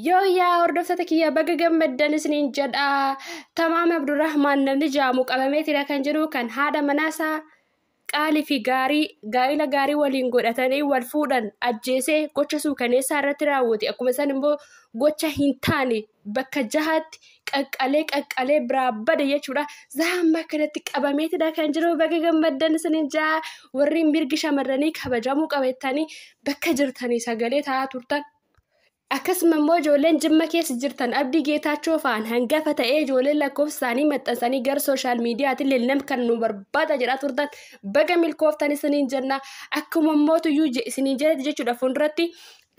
Yooyyaa hordoftoota kiyya baga gammaddan isiniin jedha. Tamaam Abdurrahmaan namni jaamu qabameetidha kan jedhu kan haadha manaasaa qaalii fi gaarii gaa'ila gaarii waliin godhatanii wal fuudhan ajjeesee gocha suukaneessaa irratti raawwate akkuma san immoo gocha hin taane bakka jahaatti qaqqalee qaqqalee biraa bade jechuudha. Zaamma kanatti qabameetidha kan jiru baga gammaddan isiniin jaa warri mirgi shamarranii kabajamuu qabeettanii bakka jirtanii sagalee ta'aa turtan Akkasuma immoo ijoolleen Jimma keessa jirtan Abdii Geetaachoo fa'aan hangafa ta'ee ijoolleen lakkoofsa isaanii maxxansanii gara sooshaal miidiyaatiin lilnam kan nu barbaada jedhaa turtan baga milkooftan isiniin jenna akkuma mootu iyyuu isiniin jedhati jechuudha fuulduratti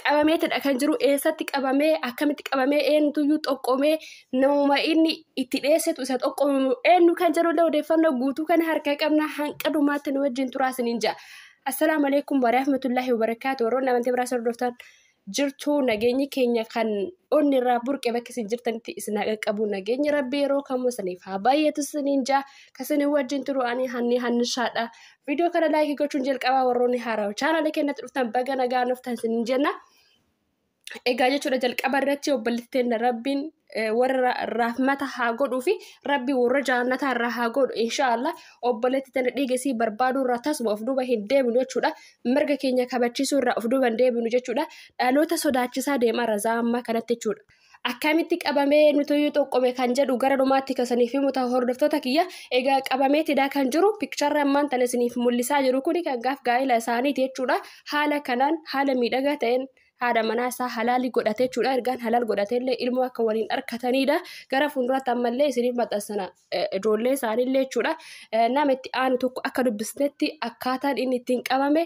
qabameetidha kan jiru eessatti qabamee akkamitti qabamee eenyutu iyyuu xoqqomee namuma inni itti dheessetu isa xoqqomamu eenyu kan jedhullee odeeffannoo guutuu kana harkaa qabna hanqa dhumaatti nu wajjin turaa isiniin jedha. Assalaamu alaikum wa rahmatullahi wa barakaatu warroonni amantii biraa sordoftan jirtu nageenyi keenya kan onni irraa burqe bakka isin jirtanitti isin haa qaqqabu nageenyi rabbi yeroo kamuu isiniif haa baay'atu isiniin jaa kan isin wajjin turu ani hanni hannishaadha viidiyoo kana laayikii gochuun jalqabaa warroonni haarawa chaanaala keenyatti dhuftan baga nagaa nuftan isiniin jenna. egaa jechuudha jalqaba irratti obboleettiin rabbiin warra rahmata haa godhuu fi rabbi warra jaannataa irraa haa godhu inshaallah obboleetti tana dhiigesii barbaaduu irraa tasuma of duuba hin deebinu jechuudha mirga keenya kabachiisuu irraa of duuba hin deebinu jechuudha dhaloota sodaachisaa deemaa razaa ammaa kanatti jechuudha. Akkamitti qabamee nutuyyuu xoqqome kan jedhu gara dhumaatti kasaniif himu ta'a hordoftoota kiyya egaa qabamee tidaa kan jiru pikcharri ammaan tana isiniif mul'isaa jiru kuni kan gaaf gaa'ila isaaniiti jechuudha haala kanaan haala miidhagaa ta'een haadha manaa isaa halaalii godhate jechuudha. Ergaan halaal godhatee illee ilmoo akka waliin arkataniidha. Gara fuulduraatti ammallee isiniif maxxansana ijoollee isaaniillee jechuudha. Nama itti aanu tokko akka dubbisnetti akkaataan inni ittiin qabame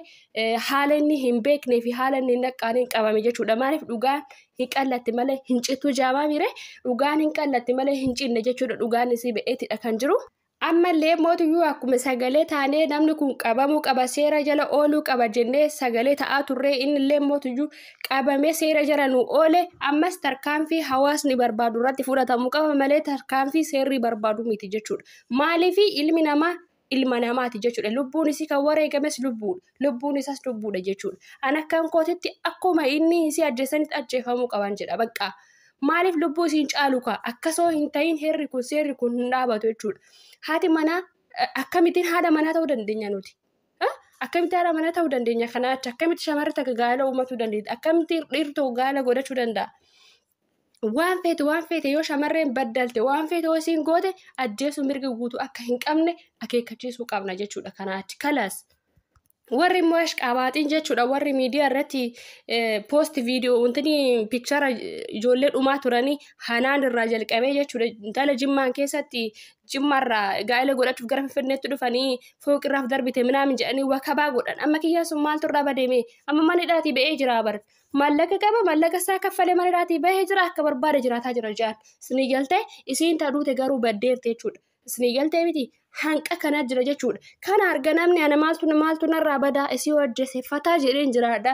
haala inni hin beeknee fi haala inni hin dhaqqaaneen qabame jechuudha. Maaliif dhugaan hin qallatti malee hin cittu jaamaa miire dhugaan hin qallatti malee hin cinne jechuudha. Dhugaan isii ba'eetidha kan jiru. Ammallee mootuyyuu akkuma sagalee taanee namni kun qabamuu qaba seera jala ooluu qaba jennee sagalee ta'aa turree innillee mootuyyuu qabamee seera jala nu oole ammas tarkaanfii hawaasni barbaadu irratti fudhatamu qaba malee tarkaanfii seerri barbaadu miti jechuudha. Maaliif ilmi namaa ilma namaati jechuudha. Lubbuun isii kan wareegames lubbuudha. lubbuun isaas lubbuudha jechuudha. An akkan kootitti akkuma inni isii ajjeesanitti ajjeefamuu qaban jedha bakka. Maaliif lubbuu isiin caalu kaa akkasoo hin ta'iin heerri kun seerri kun hin dhaabatu jechuudha. Haati manaa akkamittiin haadha manaa ta'uu dandeenya nuti. Akkamitti haadha manaa ta'uu dandeenya kanaa achi akkamitti shamarri takka gaa'ela uummatuu dandeetti akkamitti dhiirri tokko gaa'ela godhachuu danda'a. waan feete waan feete yoo shamarreen baddalte waan feete yoo isiin goote ajjeesuu mirga guutuu akka hin qabne akeekkachiisuu qabna jechuudha kanaa achi kalaas. Warri immoo ashqaabaaxiin jechuudha warri miidiyaa irratti poost viidiyoo wantoonni piikchara ijoollee dhumaa turanii hanaan irraa jalqabee jechuudha intala jimmaan keessatti jimmaarraa gaa'ela godhachuuf gara finfinneetti dhufanii fooqirraaf darbite minaamin jedhanii wakabaa godhan amma kiyyaan sun maaltu irraa badeeme amma mana hidhaatii ba'ee jiraa bar maallaqa qaba maallaqa isaa kaffalee mana irraatii bahee jira akka barbaade jiraataa jira jedhan isinii galtee isiin ta duute garuu baddeerti jechuudha isinii galtee miti hanqa kana jira jechuudha kana arga namni ana maaltu maaltu narraa badaa isii hojjese fataa jedheen jiraadha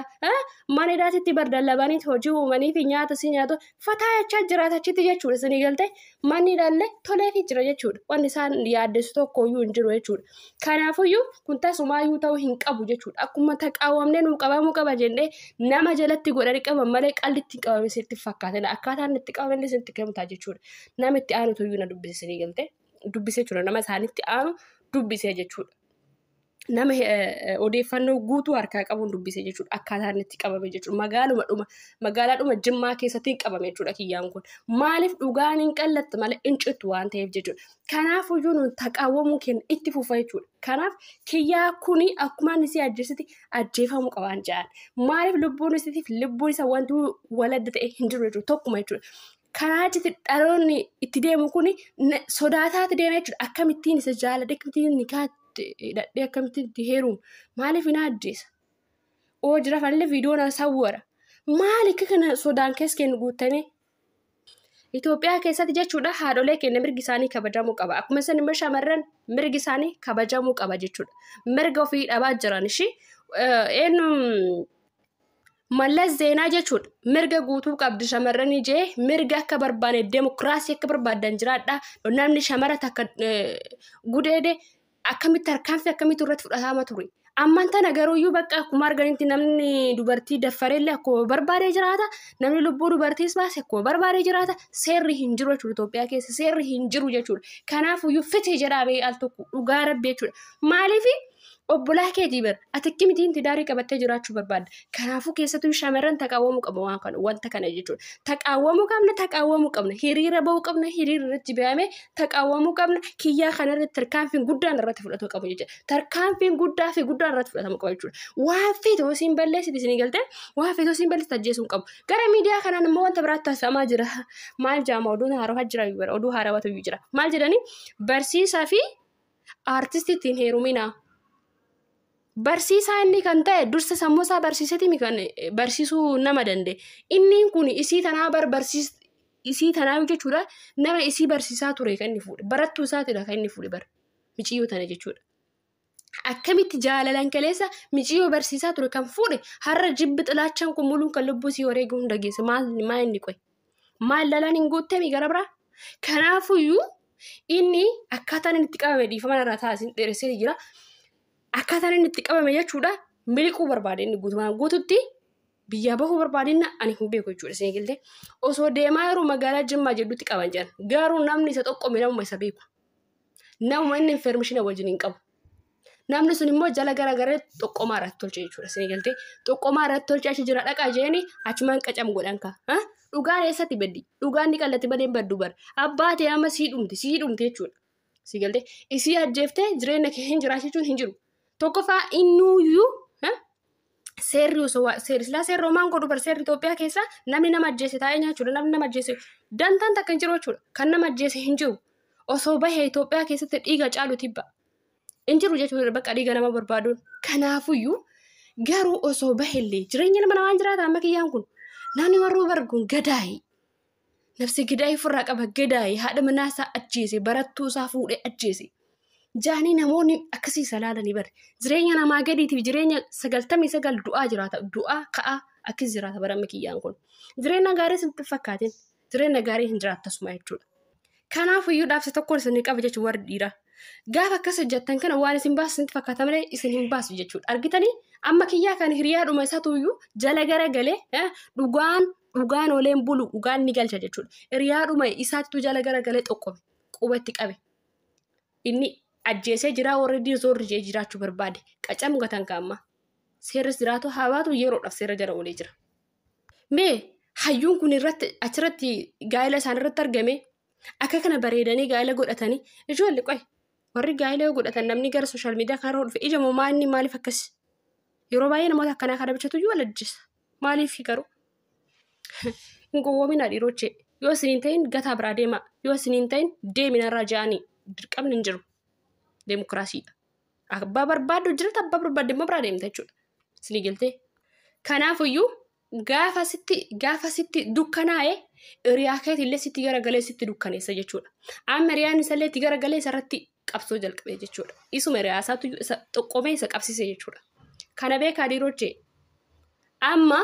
mana irraatitti bardallabaniit hojii uumanii fi nyaata isii nyaatu fataa jechaa jiraata achitti jechuudha isinii galtee manni ilaallee toleefii jira jechuudha. Wanti isaan yaaddessu tokko iyyuu hin jiru jechuudha. Kanaafuyyuu kun tasumaayyuu ta'uu hin qabu jechuudha. Akkuma taqaawamnee nuu qabamuu qaba jennee nama jalatti godhanii qaban malee qalli ittiin qabame sitti fakkaatila. Akkaataan itti qabame sitti kennutaa jechuudha. Nama itti aanutu iyyuu na dubbisisanii galte. Dubbisee jechuudha nama isaanitti aanu dubbisee jechuudha. nama odeeffannoo guutuu harkaa qabuun dubbise jechuudha akkaataa inni itti qabame jechuudha magaaluma dhuma magaalaa dhuma jimmaa keessatti qabame jechuudha kiyyaan kun maaliif dhugaan hin qallatte malee hin cittu waan ta'eef jechuudha kanaaf iyyuu nuun taqaawwamuu keenya itti fufa jechuudha kanaaf kiyyaa kuni akkuma inni si ajjeesitti ajjeefamuu qabaan jedhan maaliif lubbuun isitiif lubbuun isa wanti waladda ta'e hin jiru jechuudha tokkuma jechuudha karaa itti dhaloonni itti deemu kuni sodaataa itti deema jechuudha akkamittiin isa jaalladhe akkamittiin nikaa hidhadhee akkamitti itti heerumu maaliif hin ajjeesa oo jira fanillee viidiyoo na sawwara maali akka kana sodaan keessa keenya guuttamee Itoophiyaa keessatti jechuudha haadholee keenya mirgi isaanii kabajamuu qaba akkuma isin immoo shamarran mirgi isaanii kabajamuu qaba jechuudha mirga ofii dhabaa jiran ishii eenyu Mallas Zeenaa jechuudha. Mirga guutuu qabdu shamarran ijee mirga akka barbaanne demokiraasii akka barbaaddan jiraadha. Namni shamara takka gudeede akkamitti tarkaanfii akkamitti irratti fudhatama ture. Amman tana garuuyyuu bakka akkuma arganitti namni dubartii daffarellee akkuma barbaade jiraata. Namni lubbuu dubartiis baase akkuma barbaade jiraata. Seerri hin jiru jechuudha Itoophiyaa keessa seerri hin jiru jechuudha. Kanaafuyyuu fite jedhaa bee al tokko dhugaa rabbi jechuudha. Maaliifi? Obbolaa keetii bar ati akkamitiin tidaarii qabattee jiraachuu barbaadda? Kanaafuu keessattuu shamarran taqaawwamuu qabu waan kana wanta kana jechuudha. Taqaawwamuu qabna taqaawwamuu qabna hiriira ba'uu qabna hiriira irratti ba'amee taqaawwamuu qabna kiyyaa kana irratti tarkaanfiin guddaan irratti fudhatuu qabu jechuudha. Tarkaanfiin guddaa fi guddaan irratti fudhatamu qabu jechuudha. Waan feete osoo hin balleessite isinii galtee waan feete osoo hin balleessite ajjeesuu hin qabu. Gara miidiyaa kanaan immoo wanta biraatti taasifamaa jira. Maal jaama oduun haarawa jira oduu haarawatu jira. Maal jedhanii barsiisaa fi Aartistitti hin heerumina. Barsiisaa inni kan ta'e dursa sammuu isaa barsiiseetimi kan barsiisuu nama danda'e. Inni kun isii tanaa bar barsiis isii tanaa jechuudha nama isii barsiisaa ture kan inni fuudhe barattuu isaatidha kan inni fuudhe bar miciyyoo tana jechuudha. Akkamitti jaalalan kaleessa miciyyoo barsiisaa ture kan fuudhe har'a jibbi xilaachaan kun muluun kan lubbuu isii wareeguu hin dhageesse maal maa inni qoye. Maal lalaan hin guuttemi gara biraa? Kanaafuyyuu inni akkaataan inni itti qabame dhiifama irraa taasisan dheeressee jira. Akkaataan inni itti qabame jechuudha miliquu barbaade inni guutumaan guututti biyyaa bahuu barbaade inni ani hin beeku jechuudha isin eegalte. Osoo deemaa yeroo magaalaa Jimmaa jedhutti qaban jedhan garuu namni isa tokko namuma isa beeku. Namuma inni infermishina wajjin hin qabu. Namni sun immoo jala gara gara xoqqomaa irratti tolche jechuudha. Isin galtee xoqqomaa irratti tolche achi jira dhaqaa jeeni achumaan qacam godhan ka. Dhugaan eessatti baddi? Dhugaan ni qallatti malee hin baddu bara. Abbaa ta'e amma sii dhumti sii dhumti jechuudha. Isin galtee isii ajjeeftee jireenya kee hin jiraachichuun hin jiru. Tokkoffaa innuuyyuu seerri osoo waa- seerri silaa seerri homaan godhu bar seerri Itoophiyaa keessa namni nama ajjeese taa'ee nyaachuudha namni nama ajjeese dantaan takka hin jiru jechuudha kan nama ajjeese hin jiru osoo bahe Itoophiyaa keessatti dhiiga caalu tibba hin jiru jechuudha bakka dhiiga nama barbaaduun kanaafuyyuu garuu osoo bahellee jireenya nama namaan jiraata amma kiyyaan kun namni warruu barguun gadaa'e Nafsi gidaa ifirraa qaba gedaaye haadha manaa isaa ajjeese barattuu isaa fuudhee ajjeese. Jaanii namoonni akkasii isa laalanii bare. Jireenya namaa gadiitiif jireenya sagaltamii sagal du'aa jiraata du'aa ka'aa akkasii jiraata bara mikiyyaan kun. Jireenya gaarii sitti hin fakkaatin jireenya gaarii hin jiraatta suma jechuudha. Kanaaf iyyuu dhaabsi tokkoon isin qaba jechuun warri dhiiraa. Gaafa akkas hojjettan kana waan isin baasu isinitti fakkaata malee isin hin baasu jechuudha. Argitanii amma kiyyaa kan hiriyaadhuma isaatu iyyuu jala gara galee eh, dhugaan Dhugaan ooleen bulu dhugaan ni galcha jechuudha. Hiriyaadhuma isaattu jala garagalee xoqqobe quba itti qabe. Inni ajjeesee jiraa warri zoorri jee jiraachuu barbaade qacamu gatan kaamma. Seerris jiraatu haa baatu yeroodhaaf seera jala oolee jira. Mee hayyuun kun irratti achirratti gaa'ela isaan irratti argame akka kana bareedanii gaa'ela godhatanii ijoolli qoy warri gaa'ela yoo godhatan namni gara sooshaal miidiyaa kanarra dhufe ija moomaa inni maaliif akkas yeroo baay'ee namoota akkanaa kana bichatu iyyuu wal ajjeessa. Maaliif garuu? Hin gowwoominaa dhiirochee. Yoo isin hin ta'in gataa biraa deemaa. Yoo isin hin ta'in deeminarraa ja'anii dirqamni hin jiru. Deemokiraasiidha. Abbaa barbaaddu jirata abbaa barbaadde immoo biraa deemta jechuudha. Isinii galtee? Kanaafuyyuu gaafa sitti gaafa sitti dukkanaa'e hiriyaa keetillee sitti garagalee sitti dukkaneessa jechuudha. Amma hiriyaan isallee itti garagalee isarratti qabsoo jalqabe jechuudha. Isuma riyaasaatu isa xoqqomee isa qabsise jechuudha. Kana beekaa diirojjee amma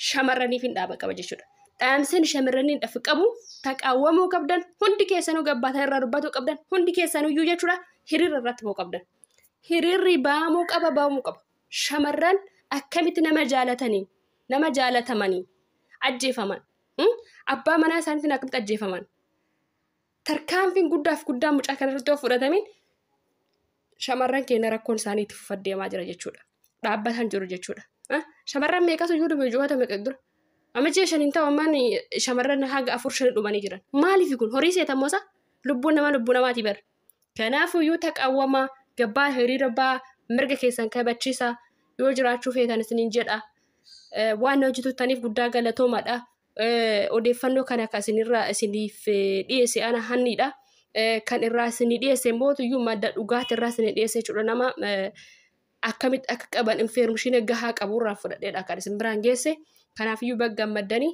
shamarraniif hin dhaaba qaba jechuudha. Dhaamseen shamarraniin dhaaf qabu taqaawwamuu qabdan hundi keessanuu gabbaatan irraa dubbatuu qabdan hundi keessanuu iyyuu jechuudha hiriira irratti ba'uu qabdan. Hiriirri ba'amuu qaba ba'amuu qaba. Shamarran akkamitti nama jaalatanii nama jaalatamanii ajjeefaman abbaa manaa isaaniitiin akkamitti ajjeefaman tarkaanfiin guddaaf guddaan mucaa kanarratti yoo fudhatamin shamarran keenya rakkoon isaanii itti fufaa deemaa jira jechuudha. Dhaabbataan jiru jechuudha. Shamarran meeqatu iyyuu dhume ji'oota meeqa dura. Amma ji'a shaniin ta'u ammaan shamarran haga afur shan dhumanii jiran. Maaliif kun horii seetamoo isaa lubbuun namaa lubbuu namaatii bara. Kanaafuu iyyuu taqawwamaa gabbaa hiriira ba'aa mirga keessan kabachiisaa yoo jiraachuu feetan isiniin jedha. Waan hojjetuttaniif guddaa galatoomaadha. Odeeffannoo kana kan isinirraa isiniif dhiyeesse ana hanniidha. Kan irraa isinii dhiyeesse mootuyyuu madda dhugaati irraa isinii dhiyeesse jechuudha nama akkamitti akka qaban infeermishiina gahaa qaburraa fudhadheedha kan isin biraan geesse. Kanaafiyyuu bagga maddanii